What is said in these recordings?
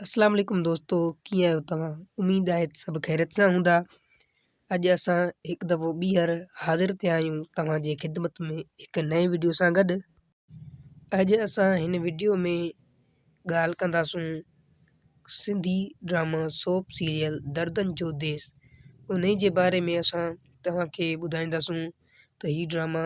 اسلام عليڪم دوستو ڪيئن آهيو توهان اميد آهي ته سڀ خيريت سان هوندا اڄ اسان هڪ دفعو ٻيهر حاضر ٿيا آهيون توهان جي خدمت ۾ هڪ نئين وڊيو سان گڏ اڄ اسان هن وڊيو ۾ ڳالهه ڪنداسون Sindhi drama soap serial Dardan Jo ديس انهي جي باري ۾ اسان توهان کي ٻڌائينداسون ته هي ڊراما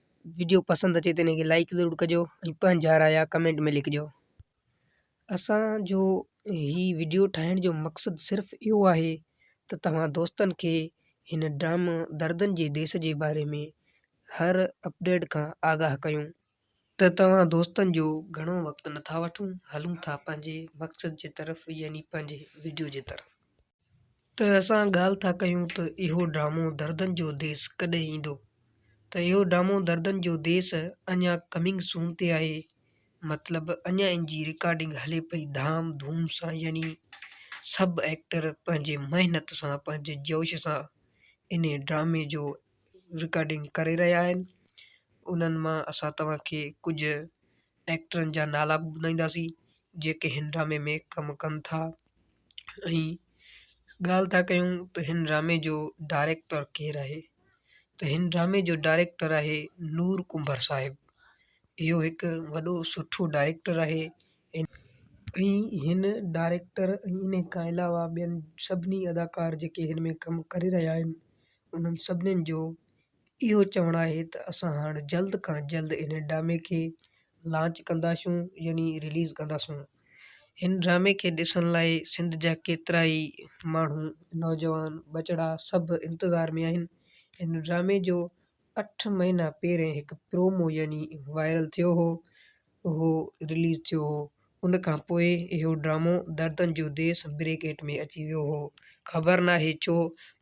وڊيو پسند اچي ته انکي لائيڪ ضرور ڪجو ۽ پنهنجا رايا ڪمينٽ ۾ لکجو اسان جو هي وڊيو ٺاهڻ جو مقصد صرف اهو آهي ته توهان دوستن کي هن ڊرامه دردن جي ديس جي باري ۾ هر اپڊيٽ کان آگاهه ڪيون ته توهان دوستن جو گهڻو وقت نٿا وٺون هلون ٿا پنهنجي مقصد جي طرف يعني پنهنجي وڊيو جي طرف. ته اسان ڳالهه ٿا ڪيون ته اهو ڊرامو دردن جو ديس ڪڏهن ايندو ته اهو ڊرامو دردن جو ديس اڃا ڪمنگ سون تي آهي مطلب اڃا ان جي رڪارڊنگ هلي پئي ڌام ڌوم سان يعني سڀ ايڪٽر پنهنجي محنت سان پنهنجي جوش سان ان ڊرامي جو رڪارڊنگ ڪري رهيا آهن انهن مان اسان توهان کي ڪجهه ايڪٽرن جا نالا به ٻڌائينداسين جيڪي هن ڊرامي ۾ ڪم ڪن ٿا ۽ ڳالهه ٿا ڪيون ته هن ڊرامي جو ڊائريڪٽر ڪير آهي ته هن ڊرامي جو ڊائريڪٽر آهي نور ڪنڀر صاحب اهو هڪ وڏو سٺو ڊائريڪٽر آهي ۽ هن ڊائريڪٽر ان کان علاوه ٻين سڀني اداڪار جيڪي هن ۾ ڪم ڪري رهيا آهن انهن سڀني جو اهو چوڻ آهي ته اسان هاڻ جلد کان جلد هن ڊرامي کي لانچ ڪنداسون يعني رليز ڪنداسون. هن ڊرامي کي ڏسڻ لاء سنڌ جا ڪيترائي ماڻهو نوجوان ٻچڙا سڀ انتظار ۾ آهن. هن ڊرامي جو اٺ مهينا پهرين هڪ پرومو يعني وائرل ٿيو هو اهو رليز ٿيو هو ان کان پوء اهو ڊرامو دردن جو ديس بريڪيٽ ۾ اچي ويو هو. خبر ناهي ڇو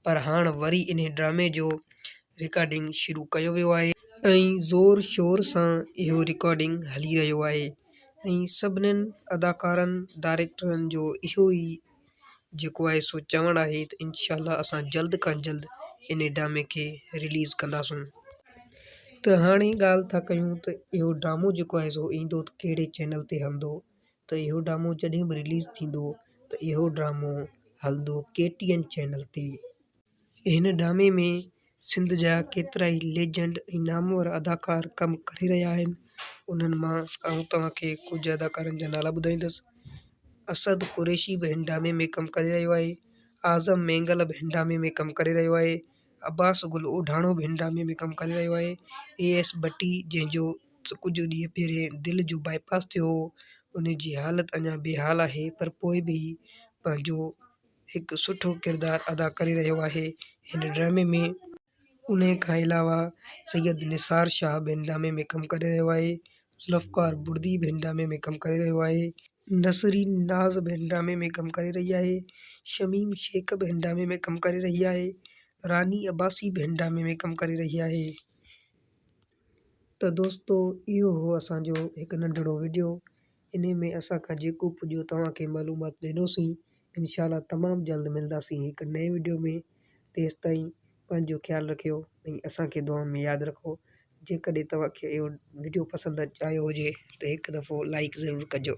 پر هاڻ وري انهي ڊرامي جو رڪارڊنگ شروع ڪيو ويو آهي. ۽ زور شور سان اهو رڪارڊنگ هلي رهيو آهي ۽ سڀنن اداڪارن ڊائريڪٽرن جو اهو ئي جيڪو آهي سو چوڻ آهي ته انشاء الله اسان جلد کان جلد ان ڊرامي کي رليز ڪنداسون ته هاڻي ڳالهه ٿا ڪيون ته اهو ڊرامو جيڪو آهي سو ايندو ته ڪهڙي چينل تي هلندو ته اهو ڊرامو جڏهن به رليز ٿيندو ته اهو ڊرامو هلندو ڪي ٽي اين چينل تي هن ڊرامي ۾ سنڌ جا ڪيترائي ليجنڊ ۽ نامور اداڪار ڪم ڪري رهيا آهن انهن مان آئون توهان کي ڪجهه اداڪارن جا نالا ٻڌائيندس اسد قريشي به هن ڊرامي ۾ ڪم ڪري رهيو آهي اعظم مينگل به هن ڊرامي ۾ ڪم ڪري رهيو آهي عباس گل اوڍاڻو به هن ڊرامي ۾ ڪم ڪري رهيو آهي اي ايس بٽي جنهن جو ڪجهه ڏينهن پهرين دل جو باء پاس ٿيو هو ان جي حالت اڃان بي حال آهي پر پوء به هي پنهنجو هڪ سٺو ڪردار ادا ڪري رهيو آهي هن ڊرامي ۾ ان کان علاوه سيد نثار شاهه به هن ڊرامي ۾ ڪم ڪري رهيو آهي ذوالفقار بڙدي به هن ڊرامي ۾ ڪم ڪري رهيو آهي نسرين ناز به هن ڊرامي ۾ ڪم ڪري رهي آهي شميم شيخ به هن ڊرامي ۾ ڪم ڪري رهي آهي راني عباسي به هن ڊرامي ۾ ڪم ڪري رهي آهي ته دوستو اهو هو اسان جو هڪ ننڍڙو وڊيو انهي ۾ اسان کان جيڪو پڄيو توهان کي معلومات ڏيندوسين انشاء الله تمام جلد ملداسين هڪ نئين وڊيو ۾ تيستائين پنهنجو خيال رکيو ۽ اسان کي دعائن ۾ ياد رکو جيڪڏهن توهان کي اهو وڊيو پسند آيو هجي ته هڪ دفعو لائيڪ ضرور ڪجو.